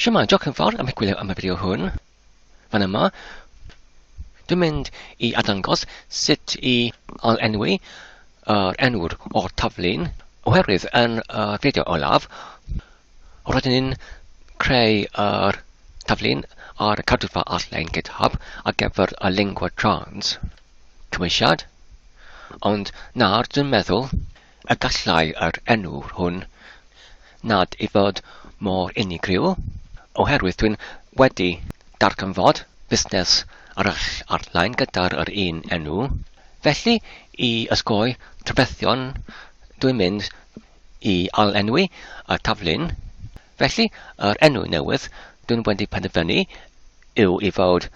Shwmae, diolch yn fawr am eich gwylio am y fideo hwn. Fan yma, dwi'n mynd i adangos sut i ail-enwi yr enw'r o'r taflu'n oherwydd yn y fideo olaf, roeddwn i'n creu yr taflu'n ar y cadwfa all-lein GitHub ar gyfer y lingua trans cymwysiad, ond nawr dwi'n meddwl A gallai yr enw hwn nad i fod mor unigryw, oherwydd dwi'n wedi darganfod busnes arall ar-lein gyda'r yr un enw. Felly, i osgoi trafferthion, dwi'n mynd i ail-enwi y taflen. Felly, yr enw newydd dw i'n wedi penderfynu yw i fod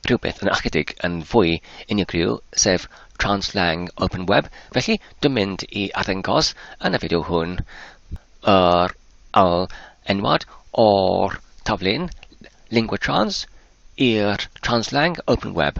rhywbeth yn ychydig yn fwy unigryw, sef Translang Open Web, felly dwi'n mynd i arddangos yn y fideo hwn yr ail enwad o'r taflun Lingua Trans i'r Translang Open Web.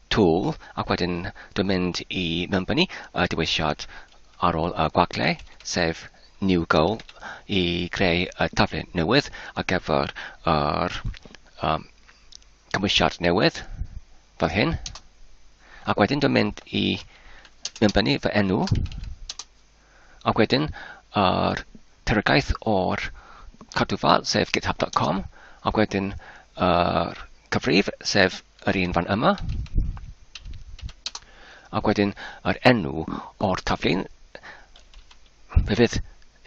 Tool ac wedyn dwi'n mynd i mewngynnu y dewisiad ar ôl y gwagle, sef New Goal, i greu y taflen newydd ar gyfer yr um, cymwysiad newydd, fel hyn. Ac wedyn dwi'n mynd i mewngynnu fy enw, Ac wedyn yr terygaeth o'r cadwfa sef github dot com ac wedyn yr cyfrif sef yr un fan yma ac wedyn yr enw o'r taflu'n fe fydd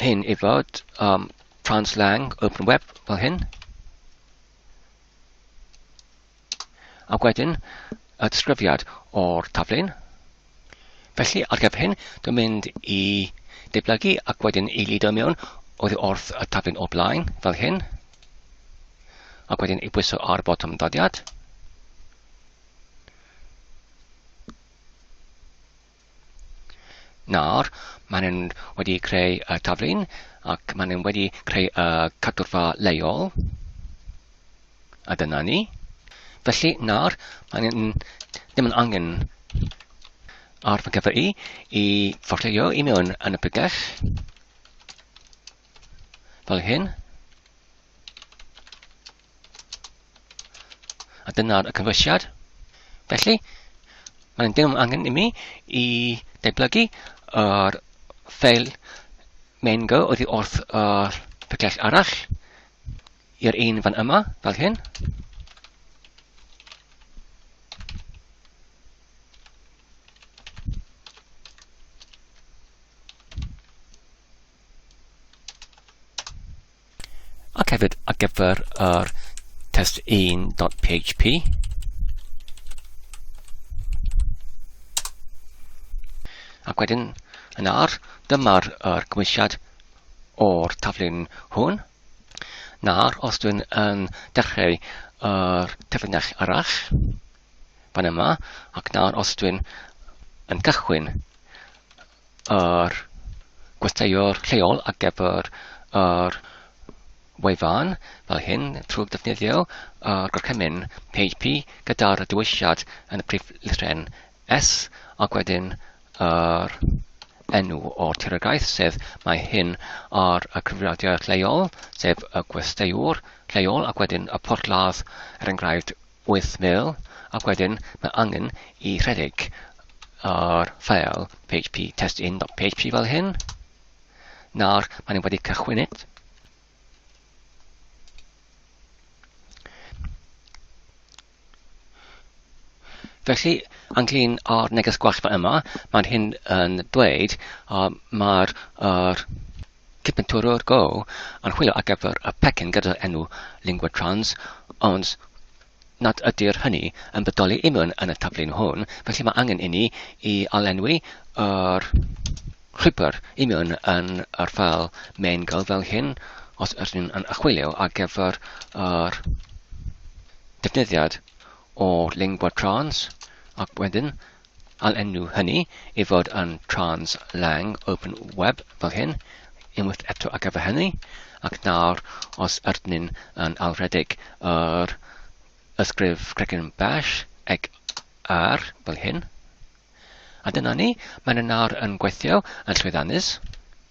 hyn i fod um, translang open web fel hyn Ac wedyn, y disgrifiad o'r taflen. Felly, ar gyfer hyn, dwi'n mynd i deblygu ac wedyn i lido mewn oddi wrth y taflen o blaen, fel hyn. Ac wedyn i bwyso ar botwm ddodiad. Nawr, maen nhw'n wedi creu y taflun ac maen nhw'n wedi creu y cadwrfa leol. A dyna ni. Felly nawr, maen nhw'n ddim yn angen ar fy gyfer i i fforlleio i mewn yn y pregell. Fel hyn. A dyna'r y cynwysiad. Felly, mae'n dim angen i mi i deblygu yr ffeil main go oddi wrth yr picell arall i'r un fan yma, fel hyn. ac hefyd ar gyfer yr test1.php. Ac wedyn, yn ar, dyma'r er gymwysiad o'r taflun hwn. Nawr, os dwi'n yn dechrau yr taflinell arall, fan yma, ac nawr os dwi'n yn cychwyn yr gwesteiwr lleol ar gyfer yr wefan fel hyn trwy ddefnyddio yr gorchymyn php gyda'r dewisiad yn y prif lythren S ac wedyn yr enw o'r tiriogaeth sef mae hyn ar y cyfrifiadur lleol sef y gwesteiwr lleol ac wedyn y porthladd er enghraifft wyth mil, ac wedyn mae angen i rhedeg ar ffeil php test1.php fel hyn. Nawr, maen nhw wedi cychwynid. Felly, anglyn o'r neges gwasfa yma, mae'n hyn yn dweud uh, mae'r uh, Cyfenturwr Go yn chwilio ar gyfer y pecyn gyda'r enw Lingua Trans, ond nad ydy'r hynny yn bodoli i mewn yn y taflen hwn, felly mae angen inni i alenwi yr llwybr i mewn yn yr ffeil main Go fel hyn, os ydyn nhw'n yn chwilio ar gyfer yr defnyddiad o Lingua Trans, ac wedyn All enw hynny i fod yn Trans Lang Open Web fel hyn, unwaith eto ar gyfer hynny, ac nawr os ydyn yn alwredig yr ysgrif cregyn bash eg ar fel hyn. A dyna ni, mae'n yn nawr yn gweithio yn llwyddiannus.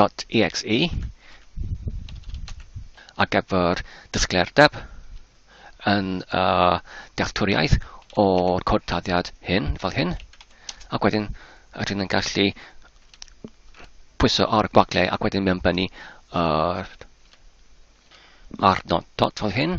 .exe ar gyfer disgleirdeb yn y dealltwriaeth o'r cod taddiad hyn, fel hyn, ac wedyn rydyn ni'n gallu pwyso ar y gwagle ac wedyn mewn bennu yr arnod dot fel hyn.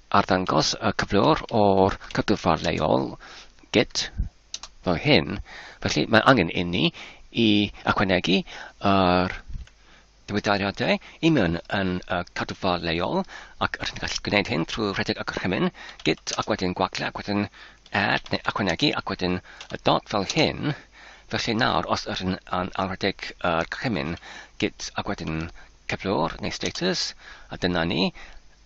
Arddangos y cyflwr o'r cadwfa leol, git, fel hyn. Felly mae angen inni i ychwanegu yr diwydairiadau i mewn yn y cadwfa leol ac rydyn ni'n gallu gwneud hyn trwy rhedeg y gorchymyn git ac wedyn gwagle ac wedyn add neu ychwanegu ac wedyn y dot fel hyn. Felly nawr os rydyn yn anrhedeg yr gorchymyn git ac wedyn cyflwr neu status a dyna ni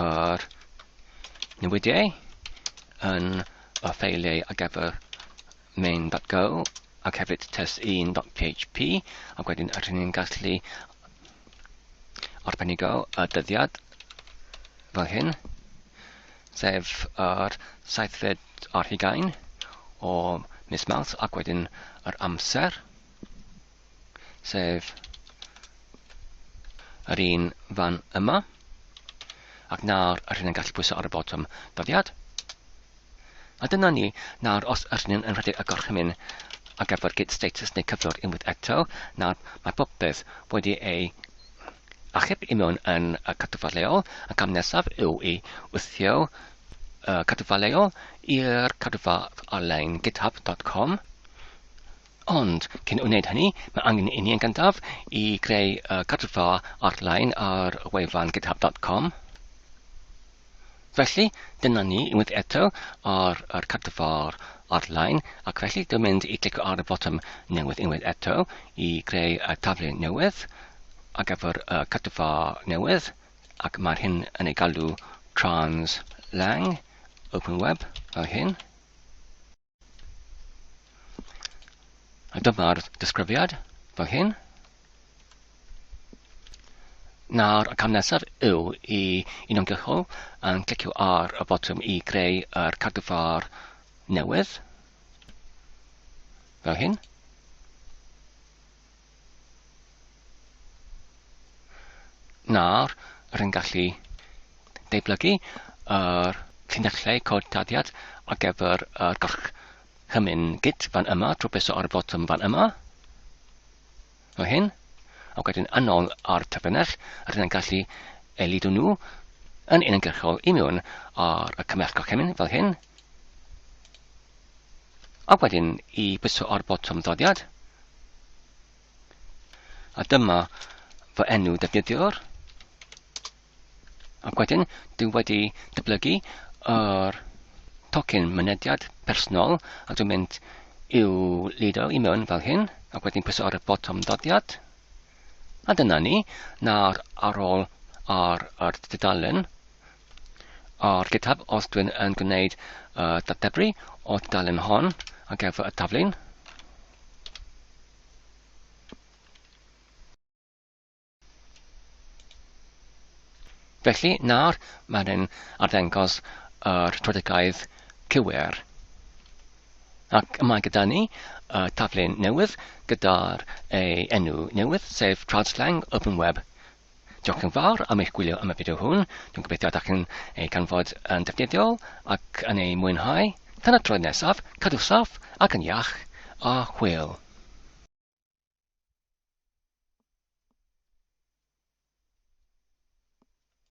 yr newidiau yn y ffeiliau ar gyfer main.go ac hefyd test1.php ac wedyn rydyn ni'n gallu arbenigo y dyddiad fel hyn sef yr saethfed ar hugain o mis Mawrth ac wedyn yr amser sef yr un fan yma. Ac nawr, yr hyn yn gallu pwysau ar y botwm dyddiad. A dyna ni, nawr os yr hyn yn rhedeg y gorchymyn ar gyfer gyd status neu cyflwr unwaith eto, nawr mae popeth wedi ei achub i mewn yn y cadwfa leol, y cam nesaf yw i wthio y cadwfa leol i'r cadwfa ar-lein github.com Ond, cyn wneud hynny, mae angen i ni yn gyntaf i greu uh, cadwfa ar-lein ar wefan github.com. Felly, dyna ni unwaith eto ar yr cadwfa ar-lein, ac felly dwi'n mynd i clicio ar y botwm newydd unwaith eto i greu y taflen newydd ar gyfer y cadwfa newydd, ac mae'r hyn yn ei galw Translang, Open Web, fel hyn. A dyma'r disgrifiad fel hyn. Nawr, y cam nesaf yw i uniongyrchol yn clicio ar y botwm i greu yr cardiffar newydd. Fel hyn. Nawr, rwy'n gallu deublygu yr llinellau cod tarddiad ar gyfer yr gorchymyn git fan yma trwy preso ar y botwm fan yma, fel hyn, ac wedyn yn ôl ar terfynell, rwy'n gallu elidu nhw yn uniongyrchol i mewn ar y cymell gorchymyn, fel hyn, Ac wedyn i pwyso ar botwm ddodiad. A dyma fy enw defnyddiwr. Ac wedyn, dwi wedi dyblygu yr tocyn mynediad personol a dwi'n mynd i'w lido i mewn fel hyn ac wedyn pwyso ar y botwm ddodiad. A dyna ni, nawr ar ôl ar yr dudalen, Ar GitHub os dwi'n yn gwneud y dateblu o dudalen hon ar gyfer y taflun. Felly nawr mae'n yn arddengos yr trodigaidd cywir. Ac mae gyda ni uh, taflen newydd gyda'r ei enw newydd, sef Trawdslang Open Web Diolch yn fawr am eich gwylio am y fideo hwn. Dwi'n gobeithio ydych chi'n ei ganfod yn defnyddiol ac yn ei mwynhau. Tan y troedd nesaf, cadw saff ac yn iach, a hwyl!